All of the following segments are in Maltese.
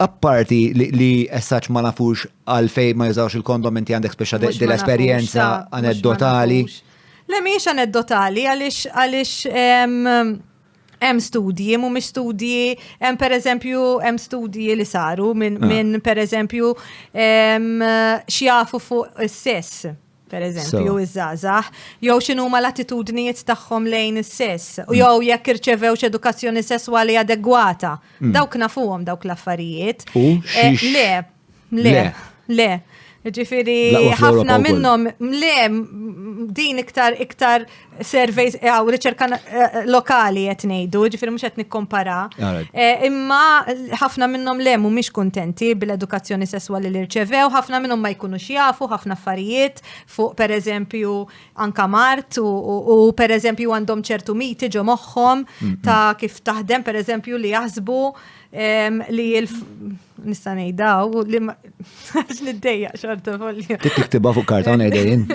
Apparti li essaċ ma nafux għalfej ma jużawx il-kondom inti għandek speċa dil-esperienza aneddotali. Le miex aneddotali għalix għalix hemm studji, mhumiex studji, hemm pereżempju hemm studji li saru minn ah. min pereżempju xjafu fuq is-sess. per eżempju, so. iż-żgħażagħ, jew x'inhuma l-attitudnijiet tagħhom lejn is-sess, u mm. jew jekk irċevewx edukazzjoni sesswali adegwata. Mm. Dawk nafuhom dawk l-affarijiet. U eh, le, le, le. Ġifiri, ħafna minnhom le din iktar iktar surveys eh, għaw riċerka eh, lokali qed ngħidu, ġifieri mhux qed nikkompara. Eh, imma ħafna minnhom le mhumiex kuntenti bil-edukazzjoni sesswali li rċevew, ħafna minnhom ma jkunux jafu ħafna affarijiet fuq pereżempju anka mart u pereżempju għandhom ċertu miti ġo moħħom ta' kif taħdem pereżempju li jaħsbu Li jil nista' ngħidaw li ma għax niddejja xorta folja. Tiktibha fuq karta ngħidejn.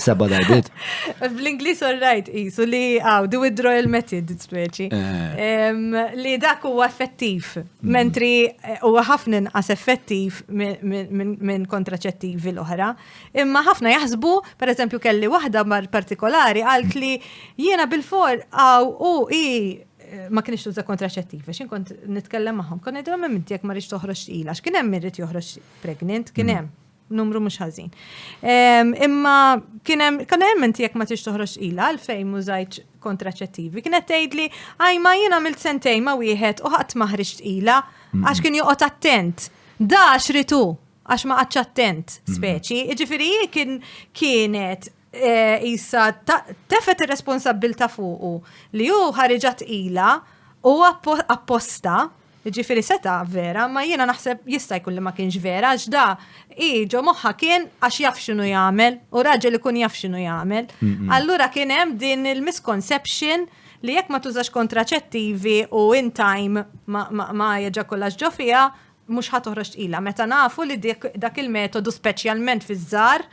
Seba darbit. Bl-Inglis all right isu li għaw, the withdrawal method, speċi. Eh. Li dak huwa effettiv, mm. mentri eh, huwa ħafna inqas effettiv minn kontraċettivi l-oħra. Imma ħafna jaħsbu, per eżempju, kelli waħda mar partikolari għalt li jiena bil-for għaw u i ma kienx tuża kontraċettiv, għax inkont nitkellem magħhom. Kon ngħidhom hemm inti jekk ma rridx toħroġ tqila, għax kien hemm irrid joħroġ pregnant, kien mm. hemm numru mhux ħażin. Imma kien hemm kan hemm inti jekk ma tix toħroġ tqila għalfejn mużajt kontraċettivi. Kienet tgħidli għaj ma jien għamilt sentej ma wieħed u ħadd ma ħriġ tqila għax kien joqgħod attent. Da xritu għax ma għadx attent speċi. Ġifieri kien kienet Isa tefet ir-responsabbilta fuqu li hu ħariġa tqila u apposta Ġifiri seta vera, ma jiena naħseb jista' jkun li ma kienx vera, għax da i ġo moħħa kien għax jaf x'inhu jagħmel u raġel ikun jaf x'inhu jagħmel. Allura kien hemm din il-misconception li jekk ma tużax kontraċettivi u in time ma jaġakulax ġo fiha, mhux ħa toħroġ tqila meta nafu li dak il-metodu speċjalment fiż-żgħar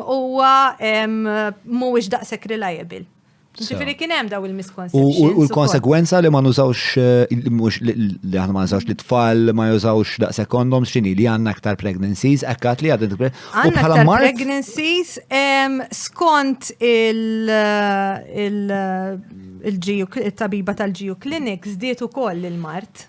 huwa mhuwiex daqshekk reliable. Ġifiri kien hemm daw il-misconceptions. U l-konsegwenza li ma nużawx eh, mhux li aħna ma nużawx li tfal ma jużawx daqshekk kondoms x'inhi li għandna aktar pregnancies, ekkat li għadin Għandna aktar pregnancies skont il- eh, eh, tabiba tal-ġiju clinics diet ukoll il-mart.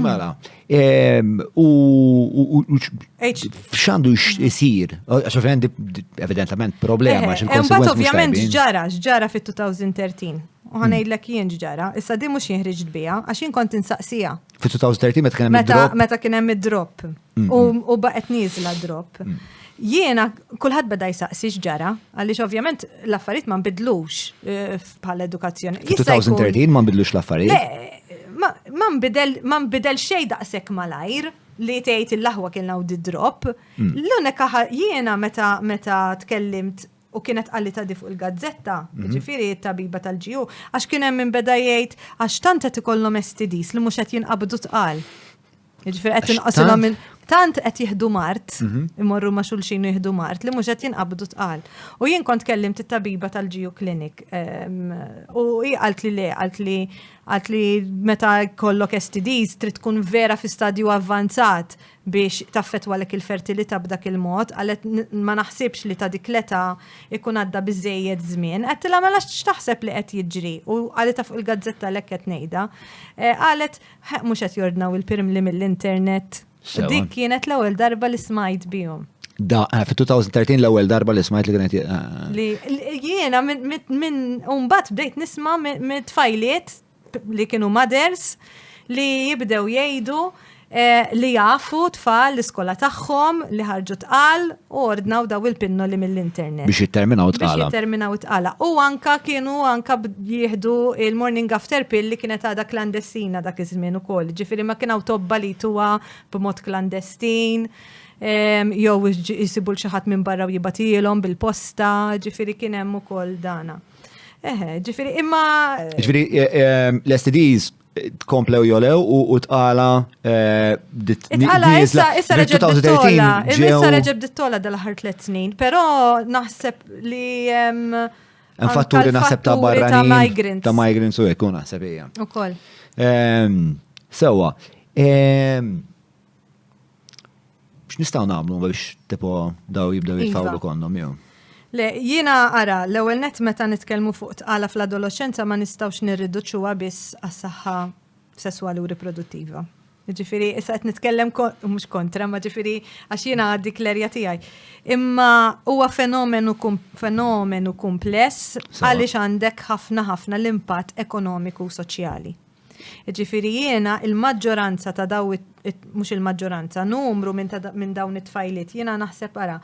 Mela, ehm, u xandu jisir, għax ovvijament evidentament problema. Eh, eh, Mbagħad ovvijament ġara, ġara fit-2013. U ħanajdlek jien ġara, issa di mhux jinħriġ bija, għax jien kont insaqsija. Fit-2013 meta kien hemm id-drop. Meta kien hemm id-drop. U baqet nizla drop. Mm. Jiena, kullħat beda jisaqsi xġara, għalix ovvjament l-affarijiet ma nbidlux eh, bħal edukazzjoni. 2013 ma nbidlux l-affarijiet? Ma nbidel xej daqsek malajr li tgħid il-laħwa kien law drop. Mm. L-unika jiena meta meta tkellimt u kienet għalli ta' fuq il-gazzetta, mhm. ġifiri tabiba tal-ġiju, għax kien hemm minn beda jgħid għax tant qed ikollhom STDs li mhux qed jinqabdu tqal. Ġifir qed inqasilhom minn tant qed jieħdu mart, mhm. imorru ma' xulxin u jieħdu mart li mhux qed jinqabdu tqal. U jien kont kellim tit-tabiba tal-Ġiju Clinic ehm, u hi qalt li le, qalt li qalt li meta kollok STDs trid tkun vera fi stadju avvanzat biex taffetwa lek il-fertilità b'dak il-mod, għalet ma naħsibx li ta' dik l-età ikun għadda biżejjed żmien, qed tilha mela x'taħseb li qed jiġri u għalet fuq il-gazzetta lek qed ngħidha. Eh, għalet Ħeq mhux qed jordnaw il-pirmli mill-internet. Dik kienet l-ewwel darba li smajt bihom. Da, eh, fi 2013 l-ewwel darba li smajt li kienet. Eh, eh. Li jiena minn umbat bdejt nisma mit tfajliet li kienu mothers li jibdew jgħidu li jafu tfal l-iskola tagħhom li ħarġu tqal U ordnaw daw il-pinnoli mill-internet. Biex jitterminaw it-tqala. Biex jitterminaw it-tqala. U anka kienu anka jieħdu il-morning after pill li kienet għada klandestina dak iż-żmien ukoll. Ġifieri ma kienaw tobba li tuwa b'mod klandestin jew jisibu l-xi ħadd minn barra u jibatilhom bil-posta, ġifieri kien hemm ukoll dana. Eħe, ġifieri imma. Ġifieri l-STDs tkomplew jolew u tqala Tqala issa issa reġeb dittola, issa reġeb dittola dal-aħħar tliet snin, però naħseb li Infatturi naħseb ta' barra ta' migrants. Ta' migrants u jkun naħseb hija. Ukoll. Sewa. X'nistgħu nagħmlu biex tipo daw jibdew iva. jitfawlu kondom jew? Le, jiena ara, l-ewwel net meta nitkellmu fuq tqala fl-adolescenza ma nistgħux nirriduċuha biss għas-saħħa sesswali u riproduttiva. Ġifiri, issa qed nitkellem mhux kontra, ma ġifiri għax jiena għaddi klerja tiegħi. Imma huwa fenomenu fenomenu kumpless għaliex għandek ħafna ħafna l-impatt ekonomiku u soċjali. Jiġifieri jiena il-maġġoranza ta' daw mhux il-maġġoranza, numru minn dawn it-tfajliet jiena naħseb ara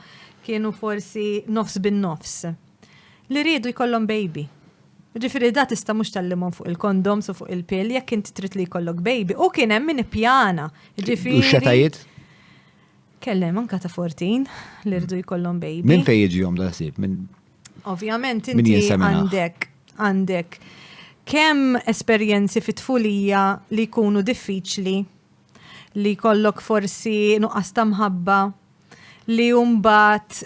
kienu forsi nofs bin-nofs li riedu jkollhom baby. Jiġifieri da tista' mhux tgħallimhom fuq il-kondoms u fuq il-pill jekk int trid li jkollok baby u kien hemm min ippjana. Jiġifieri. U x-xetajiet? Kellem anke ta' 14 li riedu jkollhom baby. Minn fejn jiġihom da l-ħsieb? Ovvjament inti għandek għandek kemm esperjenzi fit-tfulija li jkunu diffiċli li kollok forsi nuqqas ta' mħabba li jumbat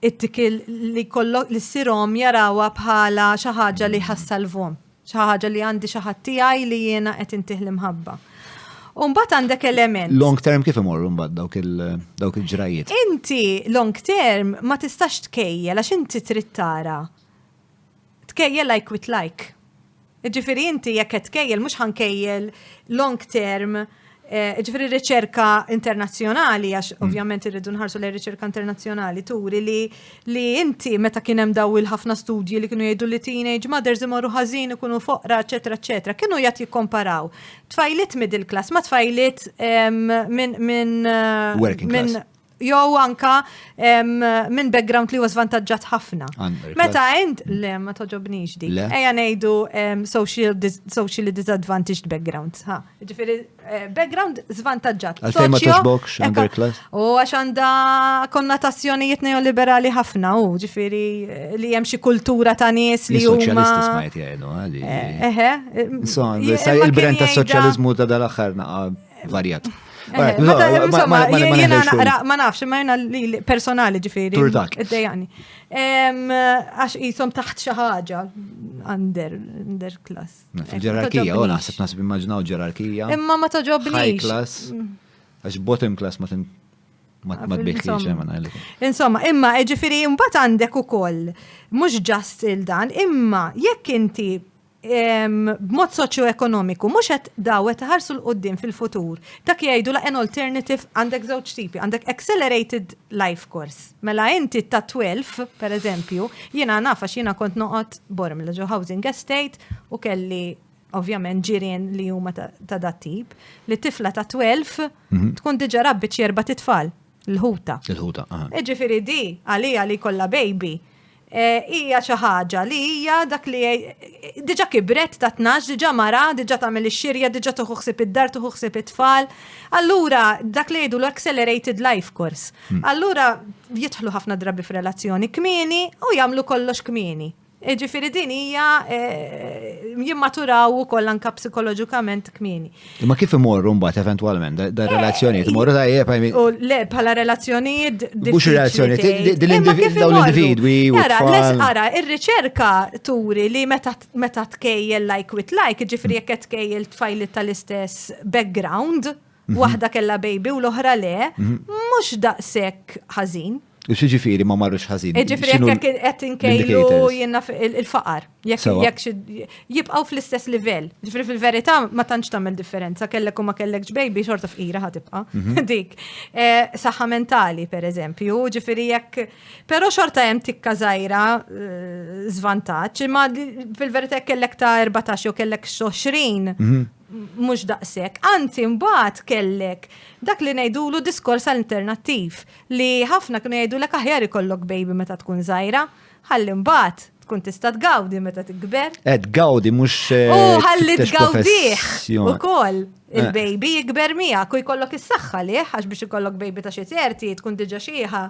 it-tikil li kollok li s-sirom jarawa bħala xaħġa li ħassalvom. Xi ħaġa li għandi xi ħadd tiegħi li jiena qed intih l-imħabba. Umbat għandek element. Long term kif imorru mbagħad dawk il-ġrajiet? Inti long term ma tistax tkejja għax inti trid tara. Tkejja like with like. Ġifieri inti jekk qed tkejjel mhux ħankejjel long term Eh, ġifiri riċerka internazzjonali, għax mm. ovvjament irridu nħarsu li riċerka internazzjonali turi li li inti meta kien hemm daw il-ħafna studji li kienu jgħidu li teenage mothers imorru ħażin ikunu foqra, eċetera, eċetera, kienu jgħat jikkomparaw tfajlit middle class ma tfajlit minn minn eh, jew anka minn background li huwa żvantaġġat ħafna. Meta int le ma toġobnix dik. Ejja ngħidu socially disadvantaged background. Ġifieri eh, background żvantaġġat. Għalfejn ma toġbokx underclass. U għax għandha konnotazzjonijiet neoliberali ħafna u ġifieri eh, li hemm xi kultura ta' nies li huma. Soċjalisti smajt jgħidu għali. Eh, eħe. Il-brand ta' soċjaliżmu ta' dal-aħħar naqa' varjat. Eh, ma nafx, ma jena li personali ġifiri. Turdak. Id-dejani. Għax jisom taħt xaħġa under, under class. Ġerarkija, u naħseb nasib immaġinaw ġerarkija. Imma ma toġobni. High class. Mm. Għax bottom class ma tin ma tbiħħiex Insomma, imma ġifiri mbagħad għandek ukoll mhux ġast il-dan, imma jekk inti b'mod soċjoekonomiku mhux qed daw qed iħarsu l quddiem fil-futur. Dak jgħidu la an alternative għandek żewġ tipi, għandek accelerated life course. Mela inti ta' 12, pereżempju, jiena naf għax jiena kont noqgħod Bormla ġo housing estate u kelli ovvjament ġirien li huma ta' dat tip, li tifla ta' 12 mhm. tkun diġà rabbiċ erba' titfal. Il-ħuta. Il-ħuta, aha. Iġifiri di, għalija li kolla baby, eh, hija xi ħaġa li hija dak li diġa kibret ta' tnax, diġa mara, diġa tagħmel ix-xirja, diġa tuħuħsib id-dar, tuħuħsib it-tfal. Allura dak li jgħidu l-accelerated life course. Hmm. Allura jidħlu ħafna drabi f'relazzjoni kmieni u jagħmlu kollox kmieni. E ġifiri din hija e, jimmaturaw ukoll anka psikoloġikament kmieni. Ma kif imorru mbagħad eventwalment da e, relazzjonijiet imorru tajjeb U le bħala relazzjonijiet Mhux relazzjonijiet l-individwi. Ara, ara, ir-riċerka turi li meta tkejjel like with like, ġifri jekk qed tkejjel tfajli tal-istess background, mhm. waħda kella baby u l-oħra le, mhm. mhux daqshekk ħażin. U xi ġifieri ma marrux ħażin. Ġifieri jekk qed inkejlu jiena il-faqar. Jekk jibqgħu fl-istess livell. Ġifieri fil-verità ma tantx tagħmel differenza kellek u ma kellekx baby xorta fqira ħa tibqa' mhm. dik. Eh, saħħa mentali pereżempju, ġifieri jekk però xorta hemm tikka żgħira żvantaġġ, eh, imma fil-verità kellek ta' 14 jew kellek 20 mhm. mhux daqshekk. Anzi mbagħad kellek dak li ngħidulu diskors alternattiv li ħafna kienu jgħidulek aħjar ikollok baby meta tkun żgħira ħalli mbagħad tkun tista' tgawdi meta tikber. Eh, tgawdi mhux. Eh, u ħalli tgawdih ukoll eh. il-baby jikber miegħek u jkollok is-saħħa li għax biex ikollok baby ta' xi terti tkun diġà xieħa.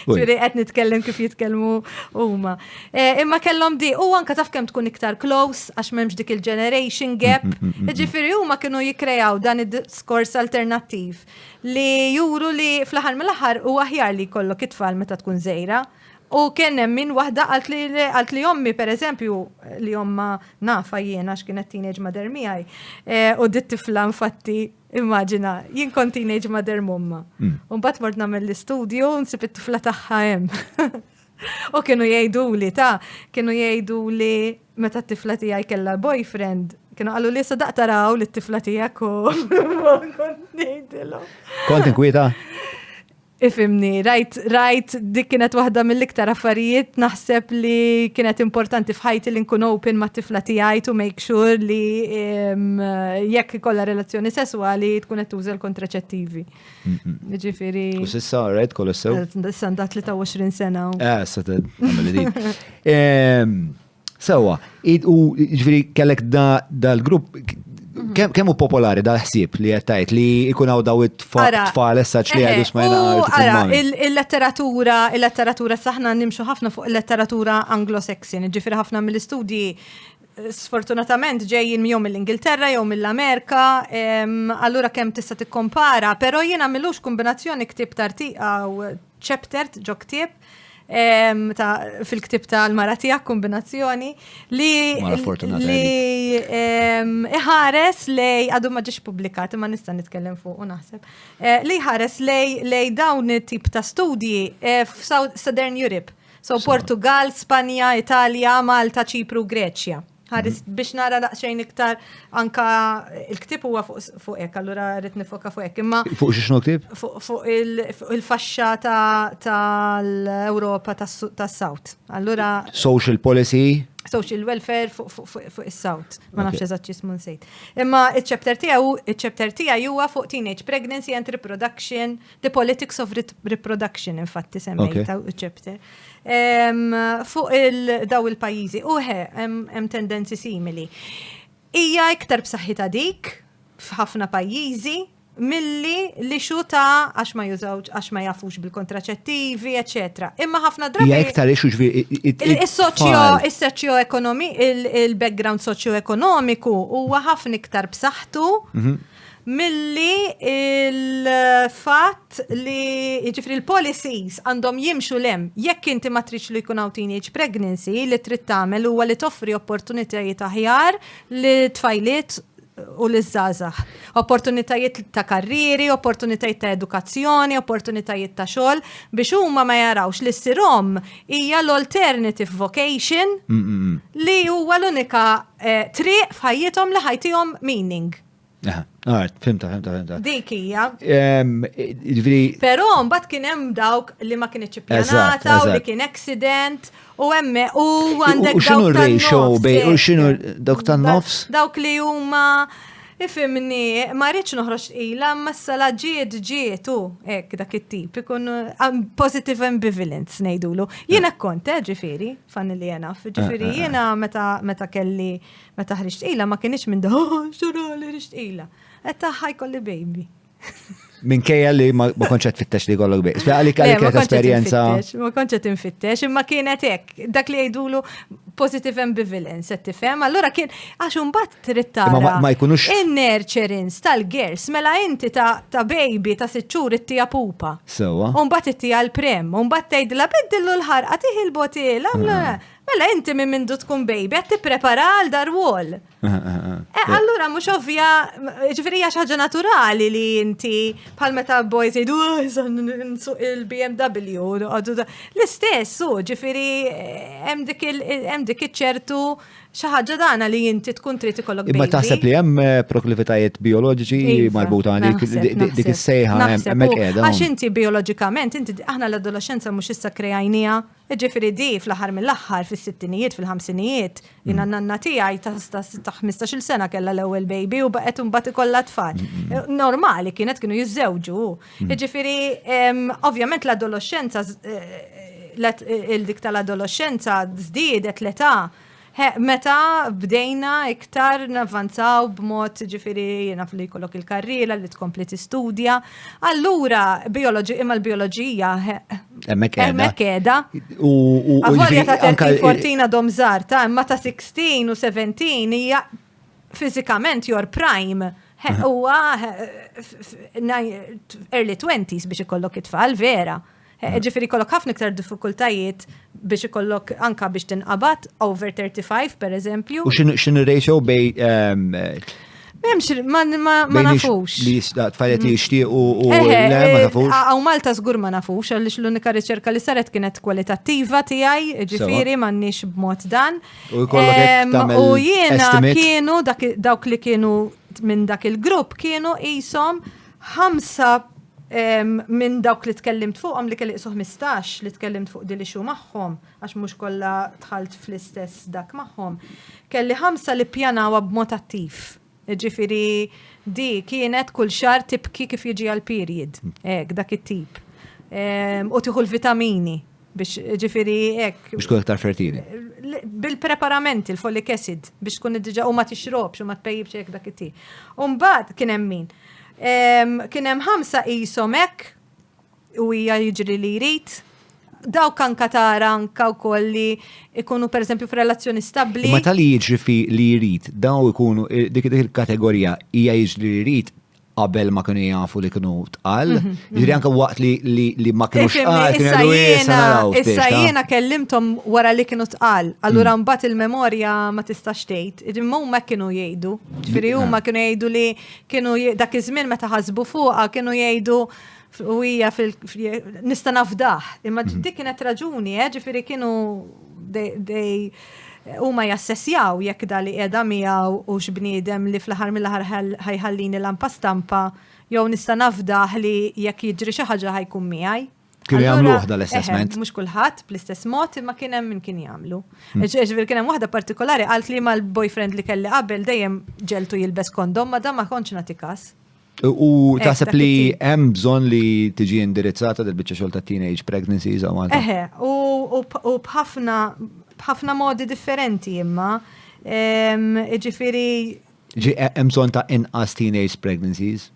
Ġifieri qed nitkellem kif jitkellmu huma. Eh, imma kellhom di, u anka taf kemm tkun iktar close, għax m'hemmx dik il-generation mm, gap. Mm, mm, Ġifieri huma kienu jikkrejaw dan id-diskors alternattiv li juru li fl-aħħar mill-aħħar u aħjar li jkollok it-tfal meta tkun żejra. U kien hemm min waħda għalt li għalt li ommi pereżempju li omma nafa jiena x'kienet teenage mother miegħi eh, u dit tifla infatti Immaġina, jien kont teenage mother momma. Mbagħad mort nagħmel l-istudju nsib it-tifla tagħha hemm. U kienu jgħidu li ta' kienu jgħidu li meta t-tifla tiegħi kellha boyfriend, kienu qalu li sadaq taraw li t-tifla tiegħek u kont ngħidilhom. Kont inkwieta? Ifimni, rajt, rajt, dik kienet waħda mill-iktar affarijiet naħseb li kienet importanti fħajti li nkun open ma' tifla tiegħi to make sure li jekk kolla relazzjoni sesswali tkun qed tuża l-kontraċettivi. Ġifiri. U sissa, rajt, kollu sew. Sissa nda 23 sena. Eh, sa ta' Sewa, u ġifiri kellek dal-grupp mhm. kemm hu popolari dal-ħsieb li qed tgħid li jkun hawn daw it-tfal essaċ li għadu smajna Ara, il-letteratura, il-letteratura saħna nimxu ħafna fuq il-letteratura anglo-saxon, ġifiri ħafna mill-istudji sfortunatament ġejjin jew mill-Ingilterra jew mill-Amerika, allura kemm tista' tikkompara, però jien għamilux kombinazzjoni ktib tartiqa u chapter ġo ktib fil-ktib tal-mara tiegħek kombinazzjoni li li iħares lej għadu ma ġiex publikat ma nista' nitkellem fuq u naħseb eh, li ħares lej dawn it-tip ta' studji eh, f'Southern Europe So, Portugal, Spanja, Italja, Malta, Ċipru, Greċja. Ħaris mhm. biex nara daqsxejn iktar anka il-ktib huwa fuq hekk, allura rrid nifoka fuq hekk. Imma fuq xi xnu ktib? Fuq il-faxxa tal-Ewropa tas-South. Allura social policy social welfare fuq is-south, ma nafx eżatt jismu nsejt. Imma iċ-chapter tiegħu, iċ-chapter tiegħi huwa fuq teenage pregnancy and reproduction The Politics of Reproduction, infatti semmejta u ċepter. Fuq il-daw il-pajizi, uħe, hemm tendenzi simili. Ija iktar b'saħħita dik f'ħafna pajizi, milli li xuta għax ma jużawġ, għax ma jafux bil-kontraċettivi, etc. Imma ħafna drabi. Ija iktar ixu ġvi. Il-soċjo, il-soċjo ekonomi, il-background soċjo ekonomiku huwa ħafna iktar b'saħħtu mhm. milli il-fatt li jiġifieri l-policies għandhom jimxu lem jekk inti ma tridx li jkun hawn teenage pregnancy li trid tagħmel huwa li toffri opportunitajiet aħjar li tfajliet u li żgħażagħ. Opportunitajiet ta' karrieri, opportunitajiet ta' edukazzjoni, opportunitajiet ta' xogħol biex huma ma jarawx li ssirhom hija l-alternative vocation li huwa l-unika eh, triq f'ħajjithom li ħajtihom meaning. Aha, għart, fimta, fimta, fimta. Dik hija. Ġviri. Però mbagħad kien hemm dawk li ma kienx ippjanata u li kien accident u emme u għandek dawk. U xinu ratio bej u xinu dawk tan-nofs? Dawk li huma Ifhimni, ma rridx noħroġ tqila, ma s-sala ġiet ġiet u hekk dak it-tip ikun um, positive ambivalence ngħidulu. Jien hekk kont, eh, ġifieri, fanni li jena. Eh, ġifieri eh, jiena meta kelli meta ħriġt tqila ma kienx minn da, oh, xorali ħriġt tqila. Qed taħħa jkolli baby. Minkejja li ma konċet fittex li kollok biex. Għalik għalik għet esperienza. Ma konċet infittex, imma kienet ek. Dak li għidulu positive ambivalence, għet tifem. Allora kien, għax un bat trittara. Ma jkunux. In-nurturins tal-gers, mela inti ta' baby ta' sitxur it-tija pupa. Sewa. Un bat it-tija l-prem, un bat tejdla beddillu l-ħarqa tiħil botila. Ah. Mela inti minn mindu tkun baby, għet prepara għal dar wall. Eh, allura, mux ovvja, ġifiri xaġa naturali li inti pal meta boys jidu oh, il-BMW, l-istess, u ġifiri, eh, hemm dik ċertu xaħġa dana li inti tkun trid ikollok. Imma taħseb li hemm eh, proklivitajiet bioloġiċi iva, marbuta għalik dik is-sejħa hemmhekk qiegħda. Għax inti bioloġikament, inti aħna l-adolescenza mhux issa krejajnija Jiġifieri di fl-aħħar mill-aħħar fis-sittinijiet, fil-ħamsinijiet, jiena n-nanna tiegħi ta' ħmistax-il sena kellha l-ewwel baby u baqgħet imbagħad ikollha tfal. Normali kienet kienu jiżżewġu. Jiġifieri ovvjament l-adoloxxenza, il-dik tal-adoloxxenza żdiedet l-età. Meta bdejna iktar navvanzaw b'mod ġifiri jenaf li jkollok il-karriera li tkompli tistudja, allura biologi, imma l-bioloġija mekeda. U għavolja ta' 13-14 dom zarta, imma ta' 16 u 17 hija fizikament your prime. Huwa early 20s biex ikollok it-tfal vera. Eh, ġifiri kollok ħafna iktar diffikultajiet biex ikollok anka biex tinqabat over 35 per eżempju. U xin ratio bej. Ehm, Memx, ma nafux. Li tfajlet li jishtiq u eh, eh, le, ma nafux. Għaw Malta zgur ma nafux, għalix l-unika riċerka li saret kienet kwalitattiva tijaj, ġifiri ma nix b'mod dan. U ehm, jiena kienu dawk li kienu minn dak il-grupp kienu jisom ħamsa minn dawk li tkellimt fuqhom li kelli 15 li tkellimt fuq dili xu magħhom għax mhux kollha tħalt fl-istess dak magħhom. Kelli ħamsa li pjanawa b'mod attiv. Ġifieri di kienet kull xar tibki kif jiġi għal period. Hekk dak it-tip. U tieħu l-vitamini. Biex ġifiri ek. Biex tkun iktar fertili. Bil-preparamenti, il-folic acid, biex tkun id-dġa u ma tixrobx u ma tpejjibx ek dak it-ti. Umbat kien hemm min. Kien hemm ħamsa qishom hekk u hija jiġri li jrid daw kan katara anka wkoll li ikunu pereżempju f'relazzjoni stabbli. Ma tal jiġri fi li jrid, daw ikunu dik il-kategorija hija jiġri li jrid qabel ma kienu jafu li kienu tqal. Mhm, mhm. Ġiri anka waqt li ma kienu tqal, kienu għadu jisa naraw. Issa jena kellimtom wara li kienu tqal, allura mm. mbat il-memorja ma tistax tgħid. Imma huma kienu jgħidu. Ġifieri mm, huma kienu jgħidu li kienu dak iż-żmien meta ħasbu fuqha kienu jgħidu U hija fil nista' nafdah, imma mhm. dik kienet raġuni, eh, ġifieri kienu dej huma jassessjaw jekk dali qiegħda miegħu u x'bniedem li fl-aħħar mill-aħħar ħajħallini lampa stampa jew nista' nafdah li jekk jiġri xi ħaġa ħajkun miegħi. Kien jagħmlu waħda l-assessment. Mhux kulħadd bl-istess mod imma kien hemm min kien jagħmlu. Hmm. Ġifier kien hemm waħda partikolari qalt li mal-boyfriend li kelli qabel dejjem ġeltu jilbes kondom ma dan ma kontx nagħti każ. U eh, taħseb li hemm bżonn li tiġi indirizzata dil biċċa xogħol ta' teenage pregnancies u Malta. Eħe, u bħafna bħafna modi differenti imma. Ġifieri. Ġi eh, hemm bżonn ta' inqas teenage pregnancies.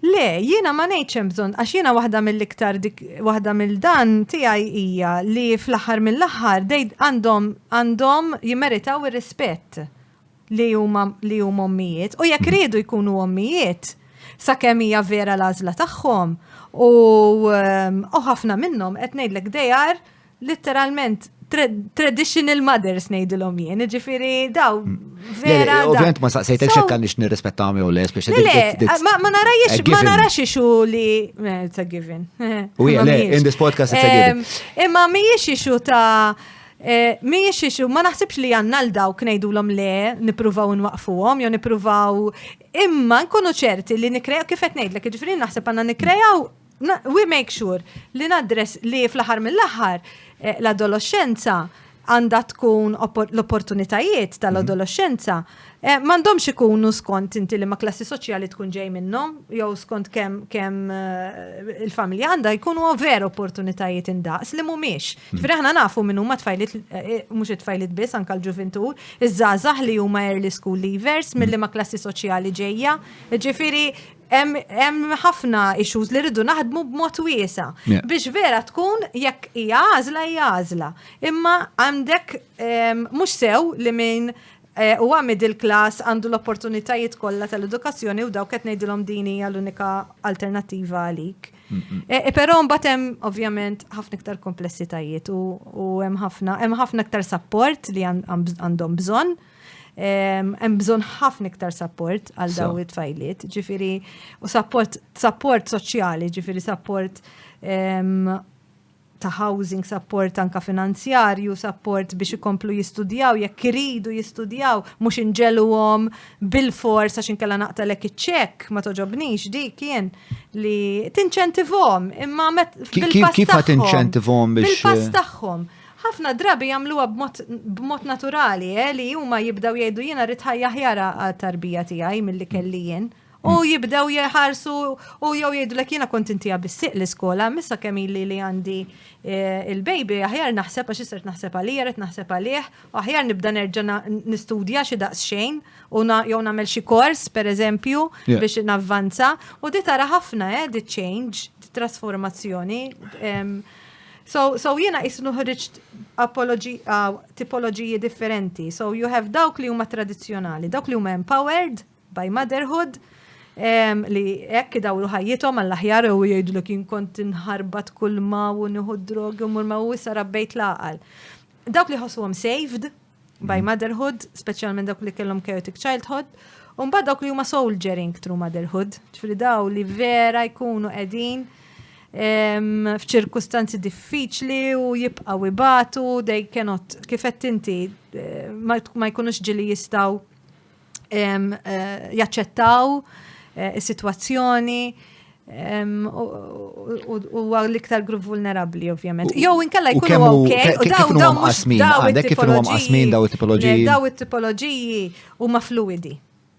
Le, jiena ma ngħidx hemm bżonn għax jiena waħda mill-iktar dik waħda mill-dan tiegħi hija li fl-aħħar mill-aħħar għandhom għandhom jimmeritaw ir-rispett. li huma li huma ommijiet u jekk riedu jkunu ommijiet sakemm hija vera l-għażla tagħhom u ehm, u ħafna minnhom qed ngħidlek dejar literalment traditional mothers ngħidilhom jien, ġifieri daw hmm. vera. Ovvjament ma saqsejtek xekk għandix nirrispettahom jew les biex Le, ma narajx ma narax ixu li eh, it's a given. U le, in this podcast it's a given. Ehm, imma mhijiex ixu ta' Mhijiex issue, ma naħsibx li għandna għal dawk ngħidulhom le, nippruvaw inwaqqfuhom jew nippruvaw imma nkunu ċerti li nikkrejaw kif qed ngħidlek, jiġifieri naħseb għandna nikkrejaw we make sure li naddress li fl-aħħar mill-aħħar eh, l-adoloxxenza għandha tkun l-opportunitajiet tal-adoloxxenza Eh, M'għandhomx ikunu skont inti li ma klassi soċjali tkun ġej minnhom, jew skont kemm kemm eh, il-familja għandha jkunu over opportunitajiet indaqs li mhumiex. Hmm. Ġifieri aħna nafu minn huma tfajlit eh, eh, mhux it-tfajlit biss anke l-ġuvintur, iż-żgħażagħ li huma early school leavers milli hmm. ma klassi soċjali ġejja. Ġifieri hemm ħafna issues li rridu naħdmu b'mod wiesa. Biex vera tkun jekk hija għażla hija għażla. Imma għandek ehm, mhux sew li minn Huwa middle class, għandu l-opportunitajiet kollha tal-edukazzjoni u dawk qed ngħidilhom din hija l-unika alternattiva għalik. Però mbagħad hemm ovvjament ħafna iktar komplessitajiet u hemm ħafna hemm ħafna iktar sapport li għandhom bżonn hemm bżonn ħafna iktar sapport għal daw it-tfajliet, ġifiri, u sapport, sapport soċjali, ġifiri sapport ta' housing, sapport anka finanzjarju, sapport biex ikomplu jistudjaw, jekk iridu jistudjaw, mhux inġeluhom bil-fors għax inkella naqtalek iċ-ċekk, ma toġobnix dik jien li tinċentivhom, imma met bil-pass Kif qed inċentivhom biex bil-pass tagħhom. Ħafna drabi jagħmluha b'mod naturali, eh, li huma jibdew jgħidu jiena rrid ħajja ħjara għat-tarbija tiegħi milli kelli jien. Mm U jibdew jħarsu u jew jgħidlek jiena kont intija bis-siq l-iskola, missa kemm illi li għandi eh, il-baby, aħjar naħseb għax isert naħseb għalija, qed naħseb għalih, u aħjar nibda nerġa' nistudja xi daqs xejn u jew nagħmel xi kors pereżempju biex navvanza u di tara ħafna eh di change, di trasformazzjoni. So, so jiena jisnu ħriġt tipoloġiji differenti. So you have dawk li huma tradizzjonali, dawk li huma empowered, by motherhood, li hekk idawru ħajjithom għall-aħjar u jgħidlek jien kont inħarbat kull ma u nieħu drogi u mur ma u issa rabbejt l-għaqal. Dawk li ħossuhom saved by mm. motherhood, speċjalment dawk li kellhom chaotic childhood, u mbagħad dawk li huma soldiering through motherhood, ġifieri daw li vera jkunu qegħdin f'ċirkustanzi diffiċli u jibqaw ibatu, they cannot, kifet inti, eh, ma jkunux ġili jistaw jaċċettaw eh, is-sitwazzjoni u għal l-iktar grupp vulnerabli, ovvjament. Jow, inkella jkunu ok, u daw daw mux daw it-tipologiji. Daw it-tipologiji. Daw it-tipologiji u ma fluidi.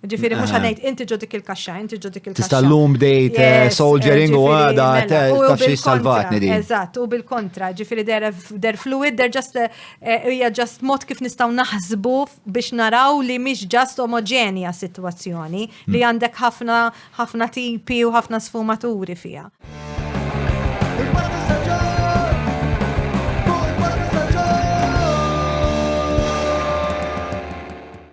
Ġifiri, mux għanajt, eh. inti ġodik il-kaxxa, inti ġodik il-kaxxa. Tista' l-lum bdejt eh, soldiering u għada, mela, tafxie salvatni di. Eżat, u bil-kontra, ġifiri, der fluid, der just, eh, hija just mod kif nistaw naħsbu biex naraw li mhix ġast omoġenja s-sitwazzjoni, li għandek ħafna ħafna tipi u ħafna sfumaturi fiha.